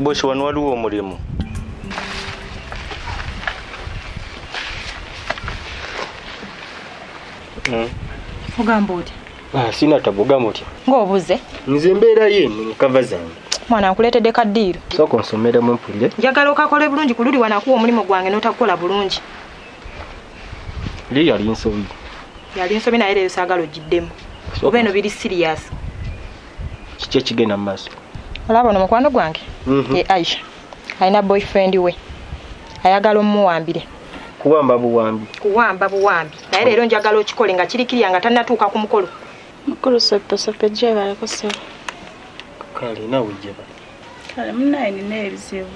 Bosi wano waliwo omulimu. Hmm. Ogamba otya? Ah, sina tabu ogamba otya? Ng'obuze. Nze mbeera ye mu kava zange. Mwana nkuleetedde ka ddiiro. Sooka onsomere mu mpulire. Njagala okakole bulungi ku luli wanakuwa omulimu gwange n'otakukola bulungi. Lye yali nsobi. Yali nsobi naye leero saagala ogiddemu. Oba eno biri siriyasi. Kiki ekigenda mu maaso? Olaba ono mukwano gwange? Mhm. Ye Aisha. Alina boyfriend we. Ayagala omuwambire. Kuwamba buwambi. Kuwamba buwambi. Naye leero njagala okikole nga kirikiriya nga tannatuuka ku mukolo. Mukulu soppe soppe gyebaleko ssebo. Kale nawe gyebaleko. kale munaye nina ebizibu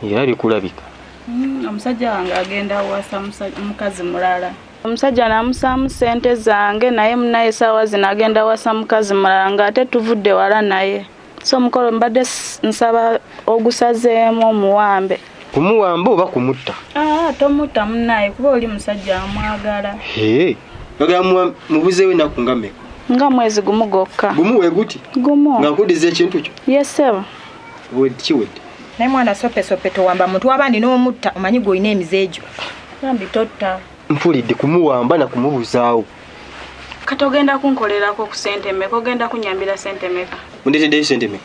era bikulabika mm, omusajja wange agenda awasa mukazi mulala omusajja namusaamu sente zange naye munaye saawa zino agenda awasa mukazi mulala nga ate tuvudde wala naye so omukolo mbadde nsaba ogusazeemu omuwambe kumuwamba oba kumutta ah, tomutta munaye kuba oli musajja amwagala ogamba mubuzeewo enaku nga meka nga mwezi gumu gokka gumu weguti gumu nga nkudiza ekintu kyo yesebo kiwedde naye mwana sopesope towamba muntu abandi n'omutta omanyi gweolina emize egyo bambi totta mpulidde kumuwamba na kumubuzaawo kati ogenda kunkolerako ku sente meka ogenda kunyambira sente meka ondetedeyo sente meka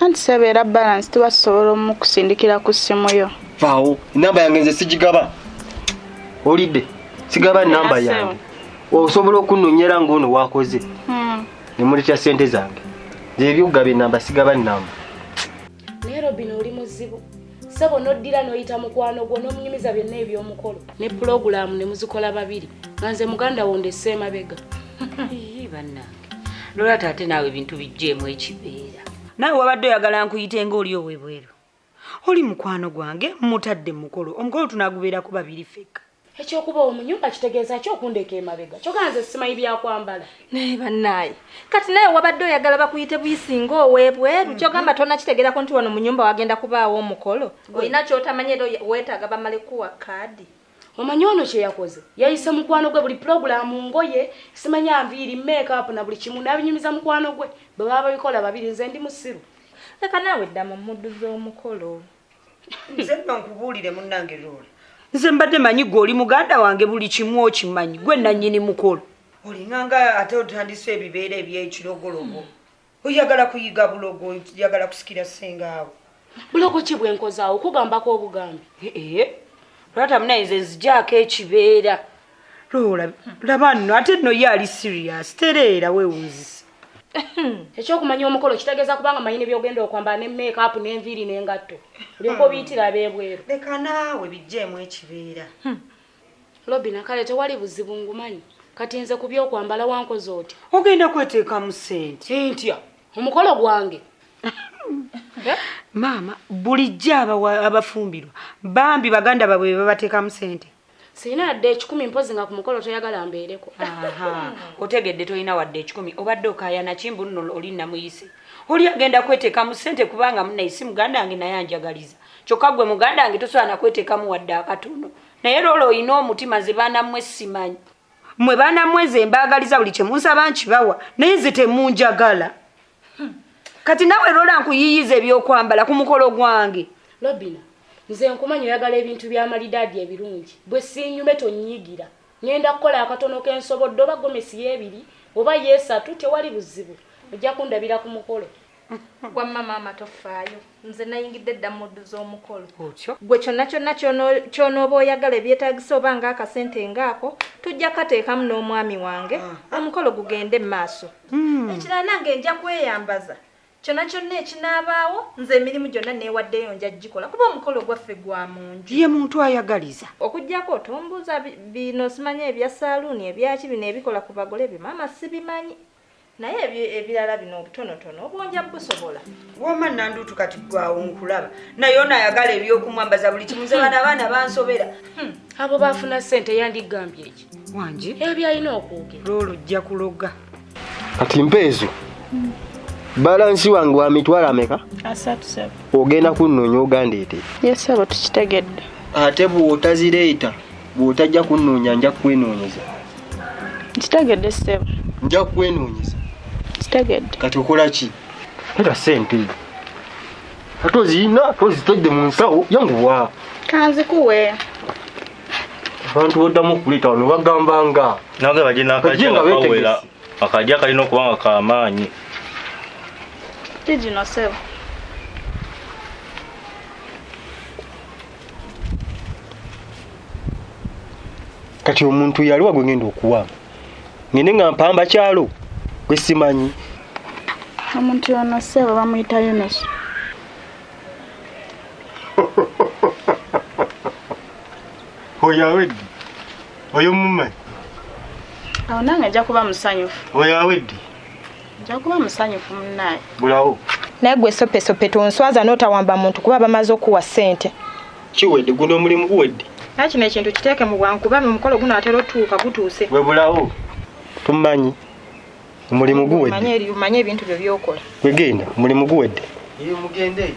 anti sebeera balance tuba tusobola omukusindikira ku ssimu yo vaawo enamba yange nze sigigaba olidde sigaba enamba yange osobola okunonyera ngaono wakoze hmm. nemuletya sente zange zebyokugaba enamba sigaba enamba naye robin oli muzibu sebo noddira noyita mukwano gwo nomunyumiza byonna ebyomukolo ne pulogulaamu ne muzikola babiri nga nze muganda wo ndese emabega banange nolwata ate naawe ebintu bijjeemu ekibeera naawe wabadde oyagala nkuyite nga oli owebweru oli mukwano gwange mutadde mukolo omukolo tunagubeerako babiri fekka ekyokuba omunyumba kitegeeza ki okundeeka emabega kyogaa nze simanyi byakwambala naye bannaaye kati naye wabadde oyagala bakuyite buyisinga owebweru mhm. kyogamba tona kitegeerako nti wano munyumba wagenda kubaawo omukolo olina kyotamanya era weetaaga bamale kuwa kaadi omanyi ono kyeyakoze yayise mukwano gwe buli pulogulaamu ngoye simanya nviiri makeup na buli kimu nabinyumiza mukwano gwe bwe baba babikola babiri nze ndi musiru leka naawe dda mu muddu z'omukolo nze nno nkubuulire munnange loola nze mbadde manyi gwe oli muganda wange buli kimu okimanyi gwe nannyini mukolo olinganga ate otandisa ebibeera ebyekirogologo hmm. oyagala kuyiga bulogo oyagala kusikira sengaawo bulogo ki bwenkozaawo okugambako obugambi lwata munaye nze nzijaako ekibeera loola laba nno ate nno ye ali sirias tereera wewunzisa ekyokumanya omukolo kitegeeza kubanga manyini byogenda okwambala ne makeup nenviiri nengatto olyoka obiyitira abebweru leka naawe bijjeemu ekibeera hmm. lobina kale tewali buzibu ngumanyi kati nze ku byokwambala wankoze otya ogenda kweteekamu sente ntya omukolo gwange eh? maama bulijjo abafumbirwa bambi baganda babwe bebabateekamu sente sirina yadde ekikumi mpozi nga ku mukolo toyagala mbeereko otegedde tolina wadde ekikumi obadde okayanaki mbunno oli namuyise oli agenda kweteekamu sente kubanga munaye si muganda wange naye anjagaliza kyokka gwe muganda wange tosobola nakweteekamu wadde akatono naye loola olina omutima nze baana mmwe simanyi mmwe baana mmwe nze mbaagaliza buli kye munsaba nkibawa naye nze temunjagala hmm. kati nawe loola nkuyiyiza ebyokwambala ku mukolo gwange lobina nze nkumanyi oyagala ebintu byamalidaadi ebirungi bwe sinyume tonyigira ŋenda kukola akatono kensobodde oba gomesi yebiri oba yesatu tewali buzibu ojja kundabira ku mukolo wamma maama tofaayo nze nayingidde dda muddu z'omukolo otyo gwe kyonna kyonna kyonooba oyagala ebyetagisa oba nga akasente ngaako tujja kateekamu n'omwami wange ah. omukolo gugende mu maaso hmm. ekirala nange nja kweyambaza kyona kyonna ekinaabaawo nze emirimu gyonna neewaddeyo nja gikola kuba omukolo gwaffe gwa mu nju ye muntu ayagaliza okugyako otombuuza bino simanya ebya saaluuni ebyaki bino ebikola ku bagole byo maama sibimanyi naye ebirala bino obutonotono obwonja busobola woma nanduutu kati gwawo nkulaba naye ono ayagala ebyokumwambaza buli kimu nze bana abaana bansobera hmm, abo bafuna sente yandigambye eki wangi ebyalina okwogera lwolujja kuloga kati mpeezo hmm. balansi wange wa mitwalo ameka ogenda kunonya ogandeete yesabo tukitegedde ate bwotazireeta bw'otajja kunnoonya nja kukwenoonyeza nkitegedde ssebo nja kukwenoonyeza nkitegedde kati okola ki era sente ate ozirina ate ozitedde mu nsawo yanguwa kanzikuwe abantu boddamu okuleeta wano bagamba nga nange baje Bajje nga nakajja kawera beetegese. akajja kalina okuba nga kamaanyi kigino ssebo kati omuntu yaliwa gwe ngenda okuwaamu ngende nga mpamba kyalo gwe simanyi omuntu yono seebo bamuyita yunusu oyo aweddi oyo mumanyi awo nange ajja kuba musanyufu oyo aweddi njakuba musanyufu munaye bulawo naye gwe sopesope tonswaza notawamba muntu kuba bamaze okuwa sente kiwedde guno omulimu guwedde naye kino ekintu kiteeke mu bwangu kuba nomukolo guno atera otuuka gutuuse webulawo tumanyi omulimu guweddemanyi ebintu byo byokola wegenda omulimu guwedde mugende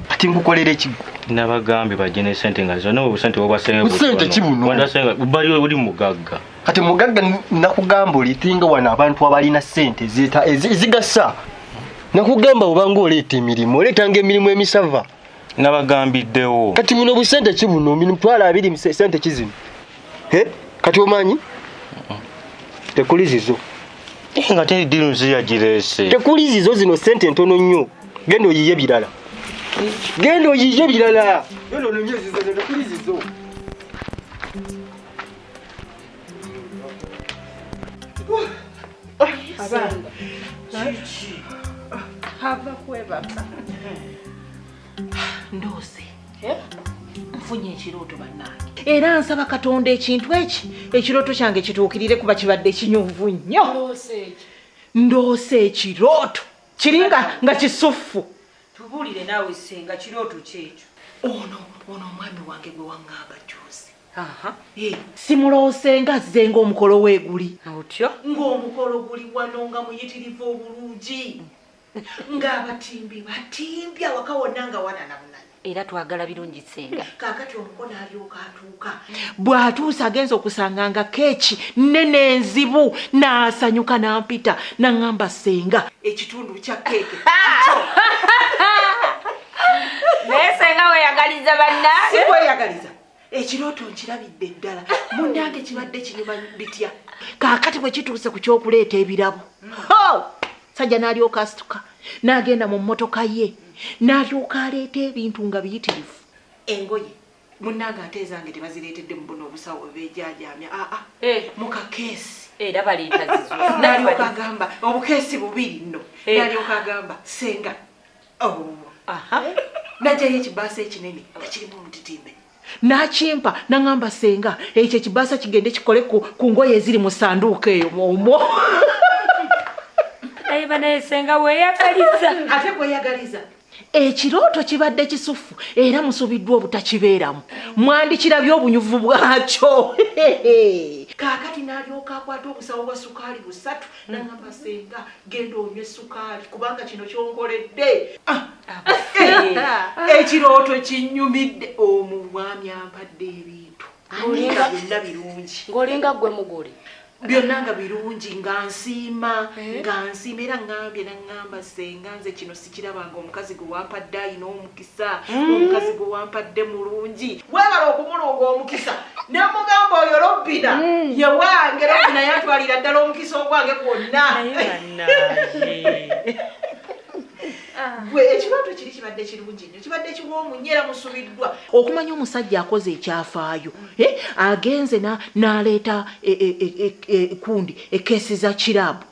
kati nkukolera ekigo nabagambye bajje ne sente nga zona obusente bwobwaseebusente kibunowandasenga bali oli mugagga kati mugagga nakugamba olitinga wano abantu abalina sente ezigasa nakugamba obanga oleeta emirimu oleetanga emirimu emisava nabagambiddewo kati buno busente ki buno mitwalo abiri se- sente ki zino Eh, kati omanyi tekuli zizo Eh, nga teri ddiru nsi yagireese tekuli zizo zino sente ntono nnyo genda oyiye birala genda oyiye birala Genda ononye ezizo, tekuli zizo abaana kiki hava kwebaka ndoose eh? nfunye ekirooto bannange era nsaba katonda ekintu eki ekirooto kyange kituukirire kuba kibadde kinyuvu nnyo ndoose ekirooto kiri nga kisuffu tubuulire naawe senga kirooto kyekyo ono ono omwami wange gwe waŋŋamba juuzi simuloose nga zze ngaomukolo weguli otyo ngaomukolo guli wano nga muyitirivu obulungi ngaabatimbi batimbi awaka wonna nga wananamuna era twagala birungi senga kakati omukono alyoka atuuka bw'atuusa agenza okusanga nga keeki nene enzibu n'asanyuka n'ampita naŋŋamba senga ekitundu kya keeke naye senga weyagaliza banna sikweyagaliza ekirooto nkirabidde ddala munange kibadde kinyuma bitya kaakati bwe kituuse ku kyokuleeta ebirabo sajja n'alyoka asituka n'agenda mu mmotoka ye n'alyoka aleeta ebintu nga biyitirivu engoye munange ate ezange tebazireetedde mu buno obusawo bebejaajaamya aa ah, ah. eh. mu kakeesi era baleeta zizonalyoka agamba obukeesi bubiri nno eh. nalyoka agamba senga najayo ekibaasa ekinene nga kirimu omutitimbe nakimpa naŋamba senga ekyo ekibaasa kigende kikole ku ngoye eziri mu sanduuka eyo omwo naye banaye senga weyagaliza ate gweyagaliza ekirooto kibadde kisufu era musubiddwa obutakibeeramu mwandikirabye obunyuvu bwakyo kaakati n'alyoka akwata obusawo bwa sukaali busatu nangamba senga genda onywe sukaali kubanga kino kyonkoledde ah, ah, eh, eh, ekirooto kinyumidde omu bwami ampadde ebintu olinga byonna birungi ngaolinga gwe mugole byonna nga birungi nga nsiima eh? nga nsiima era ngambye nangamba senga nze kino sikiraba nga omukazi gwe wampadde ayina omukisa mm. omukazi gwe wampadde mulungi webala okumulunga omukisa nemugamba oyo lobbina mm. ye wange lobbina yantwalira ddala omukisa ogwange gwonna ah. gwe ekirooto kiri kibadde kirungi nnyo kibadde kiwoomu nyo era musubiddwa okumanya omusajja akoze ekyafaayo mm. eh, agenze n'aleeta ekundi e, e, e, ekeesi za kiraabu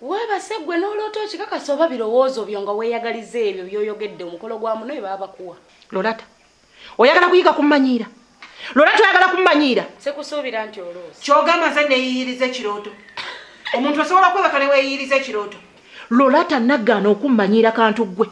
Webase gwe n'oloota okikakasa oba birowoozo byo nga weeyagaliza ebyo by'oyogedde omukolo gwa muno bye baba bakuwa. Lorata, oyagala kuyiga kummanyiira? Lorata, oyagala kummanyiira? Sikusuubira nti oloozi. Ky'ogamba nze neeyiyiriza ekirooto? Omuntu osobola okwebaka ne weeyiyiriza ekirooto? Lorata, nagaana okummanyiira kantu ggwe.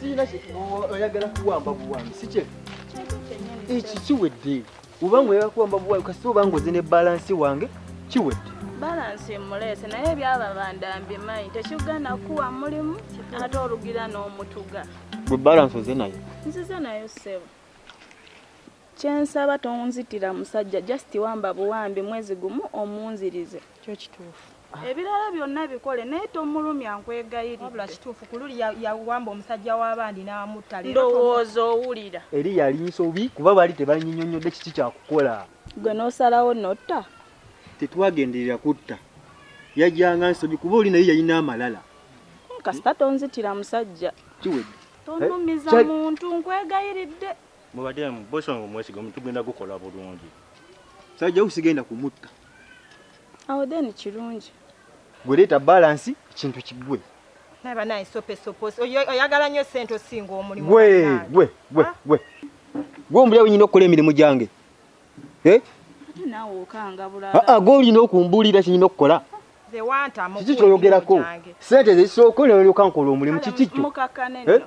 Sina oyagala kuwamba buwambi si kyefu. Eki kiwedde. Ubanga oyagala kuwamba buwayo kasita obanga oze ne balansi wange kiwedde. Balansi mmuleese naye ebyababanda mbimanyi tekigana kuwa mulimu ate olugira n'omutuga. Gwe balansi oze nayo? Nzize nayo ssebo. Kyensaba tonzitira musajja just wamba buwambi mwezi gumu omunzirize. kyo kituufu ah. ebirala byonna bikole naye tomulumya nkwegayirirwabula kituufu ku luli yawamba omusajja w'abandi n'amutta ndowooza owulira eri yali nsobi kuba baali tebanyinyonyodde kiki kyakukola gwe n'osalawo notta tetwagenderera kutta yajjanga nsobi kuba oli naye yalina amalala kasita tonzitira musajja kiwedde tonumiza eh, muntu nkwegayiridde mubademu bosonga omwesiga omutugenda gukola bulungi sajja usigenda kumutta awo then kirungi gwe leeta balansi ekintu kigwe oyagala nyo sente osinga omulimu gwe gwe gwe ah? gwe gwe ombulira wenyina okukola emirimu gyange eh? ah, ah, gwe olina okumbuulira kinyina okukola kiki kyoyogerako sente zesooka olyoka nkola omulimu kiki kyo eh?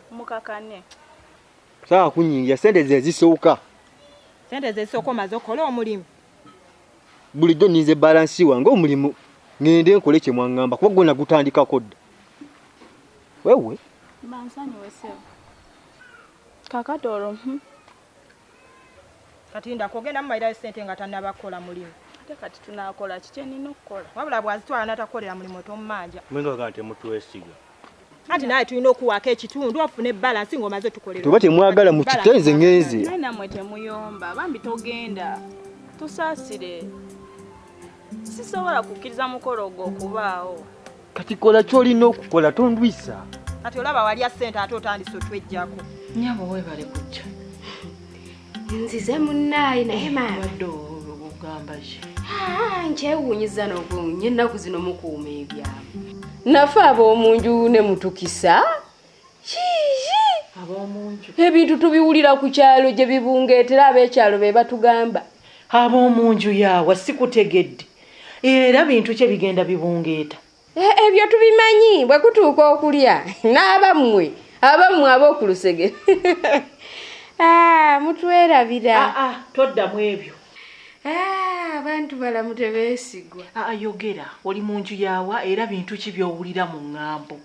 saa kunyingira sente zezisooka sente zesooka omaze okola omulimu bulijjo ninze balansi wange omulimu ngende nkole kye mwaŋŋamba kuba gwona gutandikako dda wewe bansonyiweseo kakati olwo hmm. kati ndakogenda mumairayo sente nga tanabakola mulimu ate kati tunakola kikyenina okukola wabula bwazitwala natakukolera mulimu tomumanja mwenga kati mutwesiga anti naye tulina okuwaako ekitundu ofune balansi ngaomaze tukolera oba temwagala mukitenze ngenze naye namwe temuyomba bambi togenda tusaasire sisobola kukkiriza mukolo ogwo okubaawo kati kola kyolina okukola tondwisa kati olaba walya sente ate otandise otwejjako nyabo webale kujja nzize munnaye naye maabadde ogamba ki nkyewunyiza nokunya ennaku zino mukuuma ebyama nafe ab'omunju ne mutukisa ebintu tubiwulira ku kyalo gye bibungeetera ab'ekyalo be batugamba ab'omunju yaawa sikutegedde era bintu kye bigenda bibungeeta Eh, ebyo tubimanyi bwe kutuuka okulya n'abammwe abammwe ab'oku lusege ah, mutwerabira ah, ah, toddamu ebyo abantu balamu tebeesigwa ayogera oli mu nju yaawa era bintu ki by'owulira mu ŋŋambo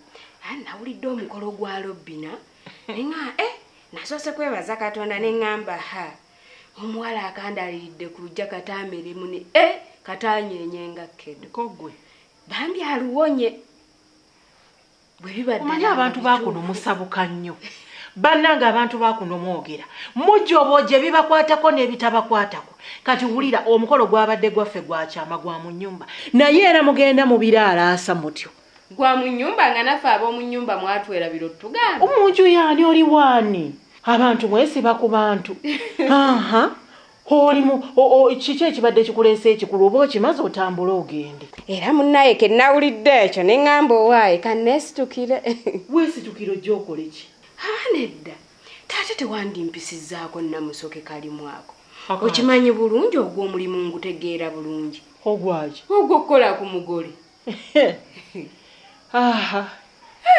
nawulidde omukolo gwa lobbina nga e eh, nasoose kwebaza katonda ne ŋŋamba ha omuwala akandaliridde ku lujja kataamere mune e eh, katanyenye nga kkedo kogwe bambi aluwonye bwe bibaddeomanyi abantu bakuno musabuka nnyo bannanga abantu bakuno mwogera mujobo gye bibakwatako n'ebitabakwatako kati wulira omukolo gwabadde gwaffe gwakyama gwa mu nnyumba naye era mugenda mu biraalaasa mutyo gwa mu nyumba nga naffe ab'omu nyumba mwatwera biro tugamba omunju yaani oli waani abantu mwesiba ku bantu aha olimu kiki ekibadde kikuleesa ekikulu oba okimaze otambule ogende era munnaye ke nawulidde ekyo ne ŋŋamba owaaye ka neesitukire weesitukire ojja okola eki haa nedda taate tewandimpisizaako namusoke kalimu ako okimanyi bulungi ogw'omulimu ngutegeera bulungi ogwaki ogw'okukola ku mugole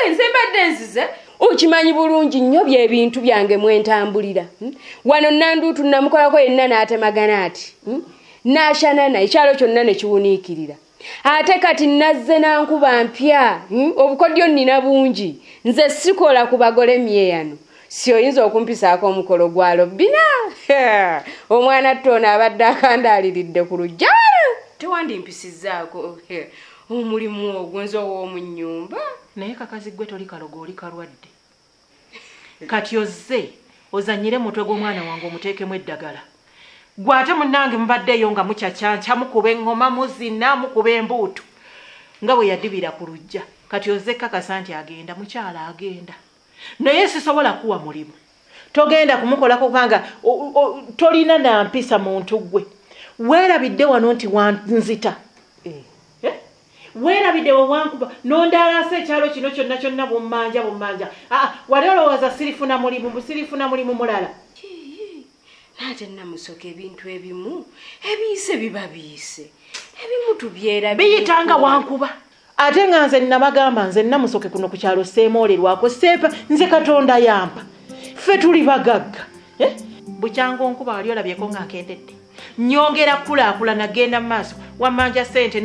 nze mbadde nzize okimanyi bulungi nnyo byebintu byange mwentambulira hmm? wano nanduutu namukolako yenna n'atemagana ati hmm? n'ashanana ekyalo kyonna ne kiwuniikirira ate kati nazze nankuba mpya hmm? obukodyo nnina bungi nze sikola ku bagole myeyano si oyinza okumpisaako omukolo gwa lobbina omwana tte ono abadde akandaaliridde ku lujja tewandimpisizzaako omulimu ogwo nze ow'omu nnyumba naye kakazi ggwe toli kalogo oli kalwadde kati ozze ozanyire mutwe gw'omwana wange omuteekemu eddagala gwe ate munnange mubaddeeyo nga mucacyanca mukuba eŋŋoma muzina mukuba embuutu nga bwe yadibira ku lujja kati ozze kkakasa nti agenda mukyala agenda naye sisobola kuwa mulimu togenda kumukolako kubanga tolina nampisa muntu gwe weerabidde wano nti wanzita eh. Eh? weerabidde wewankuba nondaalasa ekyalo kino kyonna kyonna bummanja bummanja aa ah, ah, wali olowooza sirifuna mulimu busirifuna mulimu mulala naate namusoka ebintu ebimu ebiyise biba biyise ebimu tubyera biyitanga wankuba ate nga nze nabagamba nze namusoke kuno ku kyalo seemoolerwako seepa nze katonda yampa ffe tuli bagagga eh? bukyanga onkuba wali olabyeko nga nkendedde nyongera kukulaakulana genda maaso wamanja sente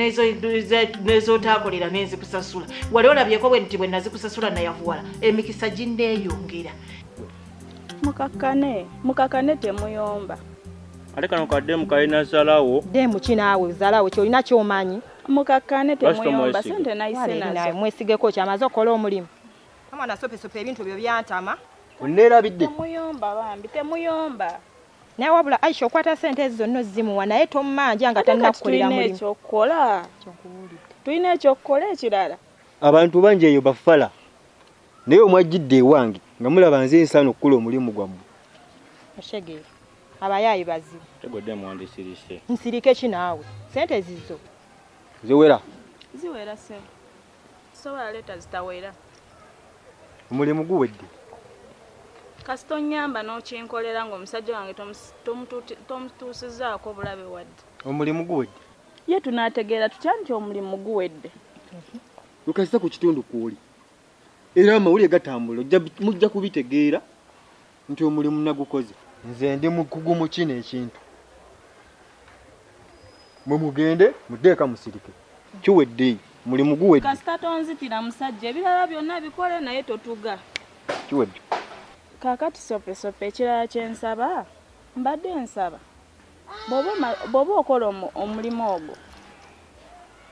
nezotaakolera nenzikusasula wali olabyeko bwe nti bwe nazikusasula nayavuwala emikisa ginneeyongera mukakane mukakane temuyomba ate kano kademu kalina zalawo demu kinaawe zalawo kyolina kyomanyi mukakkaane temuyomba sente nayise nazo mwesigeko kyamaze okukola omulimu amwana sopesope ebintu ebyo byantama onneerabidde temuyomba bambi temuyomba naye wabula aisha okwata sente ezo zonna ozimuwa naye tommanja nga tannakukolera mulimu ekyokukola tulina ekyokukola ekirala abantu bangi eyo bafala naye omwajjidde ewange nga mulaba nze nsaana okukola omulimu gwammwe Abayaaye bazibu. Tegwedde mwandisirise. Nsirike ki naawe? Sente zizo. Ziwera. Ziwera sebo. Sobola leta zitawera. Omulimu guwedde. Kasita onyamba n'okinkolera ng'omusajja wange tomutuusizaako bulabe wadde. Omulimu guwedde. Ye tunaategeera tutya nti omulimu guwedde? Nkasita ku kitundu kw'oli era amawulire gatambula mujja kubitegeera. nti omulimu nagukoze. Nze ndi mukugu mu kino ekintu. Mwe mugende mudde eka musirike. Kiwedde, mulimu guwedde. Kasita tonzitira musajja ebirala byonna bikole naye totuga. Kiwedde. Kaakati Sopesope ekirala kye nsaba, mbadde nsaba bw'oba okola omulimu ogwo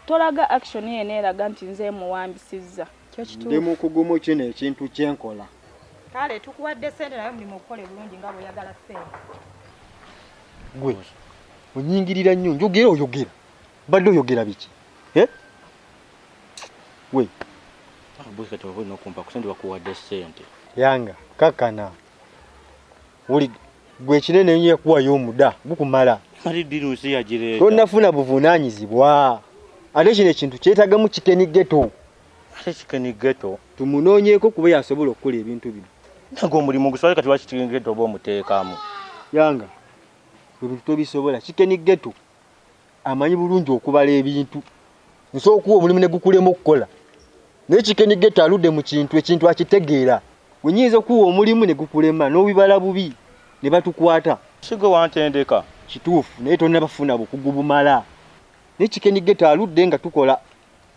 tolaga action yena eraga nti nze emuwambisizza. ndi mukugumu kino ekintu kyenkola kale tukuwadde sente naye omulimu okukola ebulungi nga bweyagala sente gwe onyingirira nnyo njogera oyogera badde oyogera biki eh? we ah, bwekati oba olina okumpa kusente bakuwadde sente yanga kakana wuli gwe kinene enyo yakuwayo omuda gukumala kati diri nsi yagireeta tonafuna buvunaanyizibwa ate kino ekintu kyetagamu kikeni geto ate kikeni geto tumunoonyeeko kuba yasobola okukola ebintu bino naga omulimu guswale kati lwaki kikeni geto oba omuteekamu yanga ebintu tobisobola kikeni geto amanyi bulungi okubala ebintu nsobola okuwa omulimu ne gukulema okukola naye kikenigeta aludde mu kintu ekintu akitegeera wenyinza okuwa omulimu ne gukulema n'obibala bubi ne batukwata sigwe wantendeka kituufu naye tonnabafuna bukugu bumala naye kikenigeta aludde nga tukola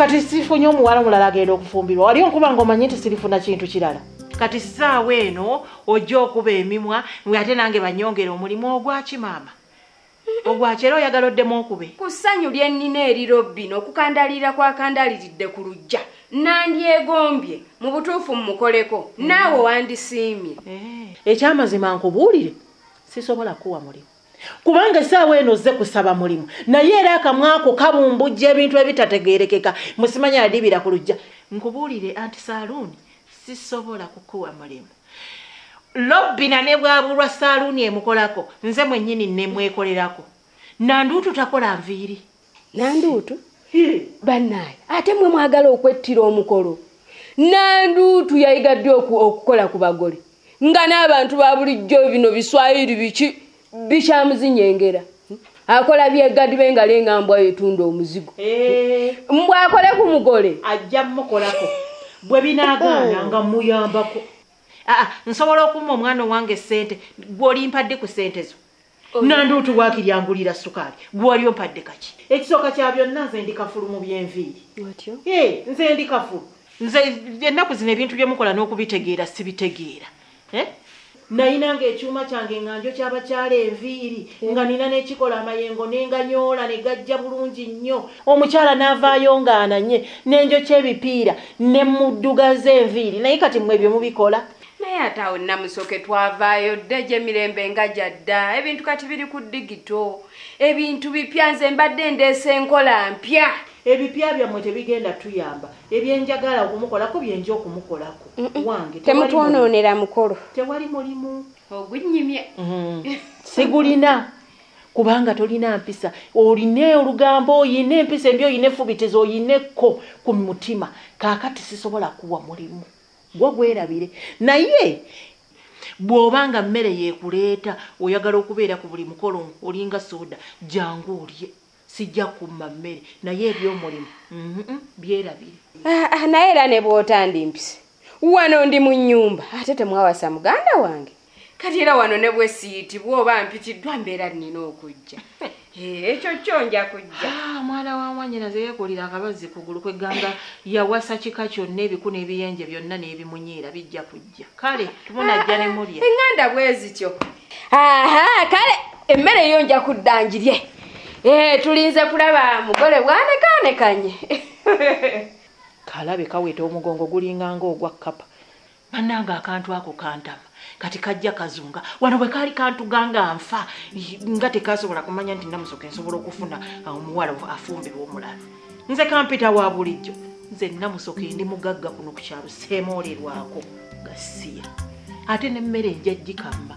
kati sifunye omuwala omulala agenda okufumbirwa wali onkuba nga omanyi nti sirifuna kintu kirala kati saawa eno ojja okuba emimwa nga ate nange banyongere omulimu ogwaki maama ogwaki era oyagala oddemu okube ku ssanyu lye nnina eri robbino okukandalirira kwakandaliridde ku lujja nandyegombye mu butuufu mumukoleko naawe wandisiimye eh. ekyamazima nkubuulire sisobola kukuwa mulimu kubanga esaawa eno ozze kusaba mulimu naye era akamwako kabumbujja ebintu ebitategerekeka musimanya yadibira ku lujja nkubuulire anti saaluuni sisobola kukuwa mulimu lobbina ne bwabulwa saaluuni emukolako nze mwennyini nemwekolerako nanduutu takola nviiri nanduutu bannaaye ate mwe mwagala okwettira omukolo nanduutu yayiga ddi okukola ku bagole nga n'abantu ba bulijjo bino biswayiri biki bikyamuzinyengera akola byegadi bengalo engambwa yetunda omuzigo eh. mbwa akole ku mugole ajja mukolako bwe binagaana nga muyambako ah, ah, nsobola okumma omwana owange sente gwolimpadde ku sente zo nanduutu waakiri angulira sukaali gwewali ompadde kaki ekisooka kya byonna nze ndi kafulu mu byenviiri nze ndi kafulu nze ennaku zino ebintu bye mukola n'okubitegeera sibitegeera eh? nayinanga ekyuma kyange nga njo kyabakyala enviiri nga nina nekikola amayengo nenganyoola negajja bulungi nnyo omukyala navaayo nga ananye nenjo kyebipiira nemuddugaza enviiri naye kati mwe byemubikola naye ate awo namusoke twavaayo dda egyemirembe nga gyadda ebintu kati biri ku digito ebintu bipya nze mbadde ndeesa enkola mpya ebipya byammwe tebigenda tuyamba ebyenjagala okumukolako byenja okumukolako wange temutwonoonera mukolo tewali mulimu ogunyimye mm-hmm. sigulina kubanga tolina mpisa olina olugambo oyina empisa embi oyina efubitezo oyinekko ku mutima kakati sisobola kuwa mulimu gwo gwerabire naye bw'oba nga mmere yeekuleeta oyagala okubeera ku buli mukolo olinga sooda jangu olye sijja kumma mmere naye ebyomulimu byerabire ah, ah, naye era ne bw'otandimpise wano ndi mu nnyumba ate temwawasa muganda wange kati era wano ne bwesiyitibwa oba mpitiddwa mbeera nnina okujja eh, ekyo kyo nja kujja ah, mwana wa mwanyina ze yeekulira akabazzi kugulu kwegamba yawasa kika kyonna ebiku n'ebiyenje byonna n'ebimunyiira bijja kujja kale tumunajja ne mulya ah, eŋŋanda bwe zityo aha kale emmere yo nja kudda ngirye eh, tulinze kulaba mugole bwanekaanekanye kalabe kaweta omugongo gulinga ngaogwa kkapa banange akantu ako kantama kati kajja kazunga wano bwe kaali kantuga nga nfa nga tekasobola kumanya nti namusoka ensobola okufuna uh, omuwala afumbirwa omulala nze kampita wa bulijjo nze namusoka endi mugagga kuno ku kyalo seemoolerwako gasiya ate nemmere enja jikamba